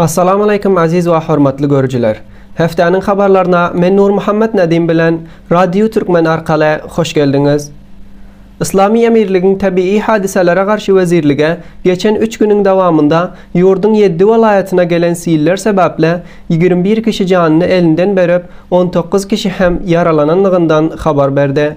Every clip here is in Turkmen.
Assalamualeýkum Aziz we hormatly görüjiler! Hefteniň habarlaryna men Nurmuhammet Nedim bilen Radio Türkmen arkaly hoş geldiňiz! Yslamy Emirligiň Tebigy hadysalara garşy wezirlige geçen üç günüň dowamynda ýurduň ýeddi welaýatyna gelen siller sebäpli ýigrimi bir kişi janyny elinden berip, on dokuz kişi hem ýaralananlygyndan habar berdi.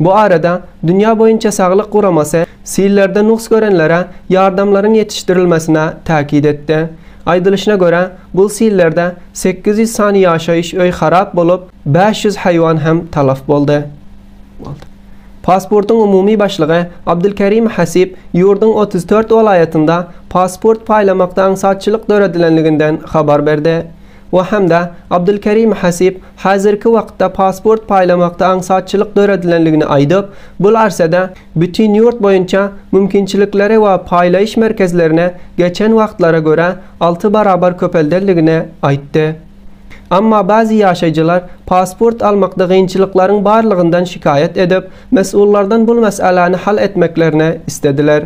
Bu arada Dünýä boýunça saglyk guramasy sillerde nugs görenlere ýardamlaryň ýetişdirilmesine täkit etdi. Aýdylyşyna görä, bu sillerde sekiz ýüz sany ýaşaýyş öý harap bolup, bäş ýüz haýwan hem talaf boldy. Pasportyň umumy başlygy Abdulkerim Hasip ýurduň otuz dört welaýatynda pasport paýlamakda aňsatçylyk döredilenliginden habar berdi. we hem-de Abdulkerim Hasip häzirki wagtda pasport paýlamakda aňsatçylyk döredilendigini aýdyp, bul arsada bütin ýurt boýunça mümkinçilikleri we paýlaýyş merkezlerini geçen wagtlara görä alty barabar köpeldendigini aýtdy. Emma bäzi ýaşaýjylar pasport almakda gynçylyklaryň barlygyndan şikaýat edip, mesullardan bul mesäläni hal etmeklerini islediler.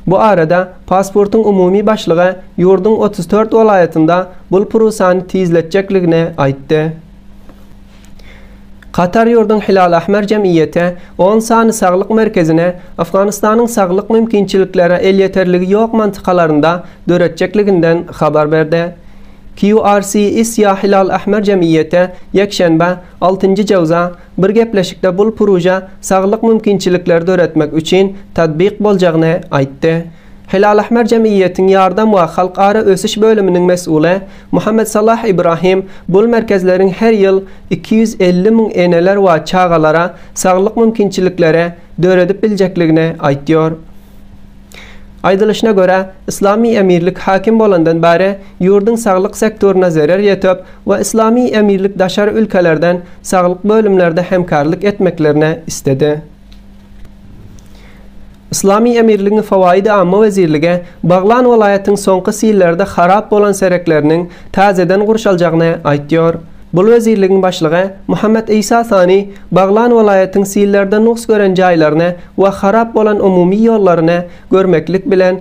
Bu arada Pasportyň umumy başlygy ýurduň otuz dört welaýatynda bul prusany tizletjekligini aýtdy. Katar ýurduň Hilal Ahmer jemgyýeti on sany saglyk merkezini Afganystanyň saglyk mümkinçiliklere elýeterligi ýok mantykalaryňda döretjekliginden habar berdi. QRC Isya Hilal Ahmer jemgyýeti ýekşenbe, altynjy jewza, Bir gepleşikde bul pruja saglyk mümkinçilikleri döretmek üçin tatbik boljagyny aýtdy. Hilalahmer jemgyýetiň ýardam we halkara ösüş bölüminiň mesuly Muhammed Salah Ibrahim bul merkezleriň her ýyl iki ýüz elli müň eneler we çagalara saglyk mümkinçilikleri döredip biljekligini aýtýar. Aýdylyşyna görä, Yslamy emirlik häkim bolandan bäri ýurduň saglyk sektoryna zerer ýetip, we Yslamy Emirlik daşary ülkelerden saglyk bölümlerde hemkarlyk etmeklerine isledi. Yslamy Emirligiň Fawaýydy-Amma wezirlige Baglan welaýatyň soňky sillerde harap bolan serekleriniň täzeden gurşaljagyny aýtýar. Bul wezirligiň başlygy Muhammet Isa Sani Baglan welaýatyň sillerde nugs gören jaýlaryny we harap bolan umumy ýollaryny görmeklik bilen,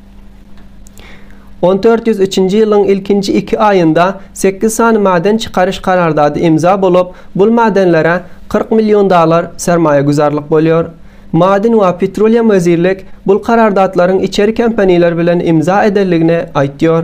On dört ýüz üçünji ýylyň ilkinji iki aýynda sekiz sany maden çykaryş kararsady imza bolup, bul madenlere kyrk million dollar sermaýaguzarlyk bolýar. Maden we petroliýum wezirlik bul karardatlaryň içeri kompaniýalar bilen imza edendigini aýtýar.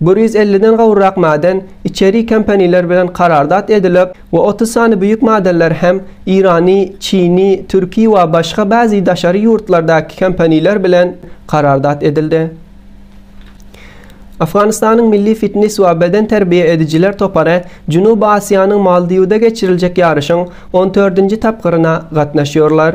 Bir ýüz elliden gowrak maden içeri kompaniýler bilen karardat edilip we otuz sany büýük madenler hem Irany, Çini, Türki we başga bazi daşary ýurtlardaky kompaniýler bilen karardat edildi. Afganistanyň milli fitnes we beden terbiýe edijiler topary Jünuby Asiýanyň Maldiwda geçiriljek ýaryşyň on dördünji tapgyryna gatnaşýarlar.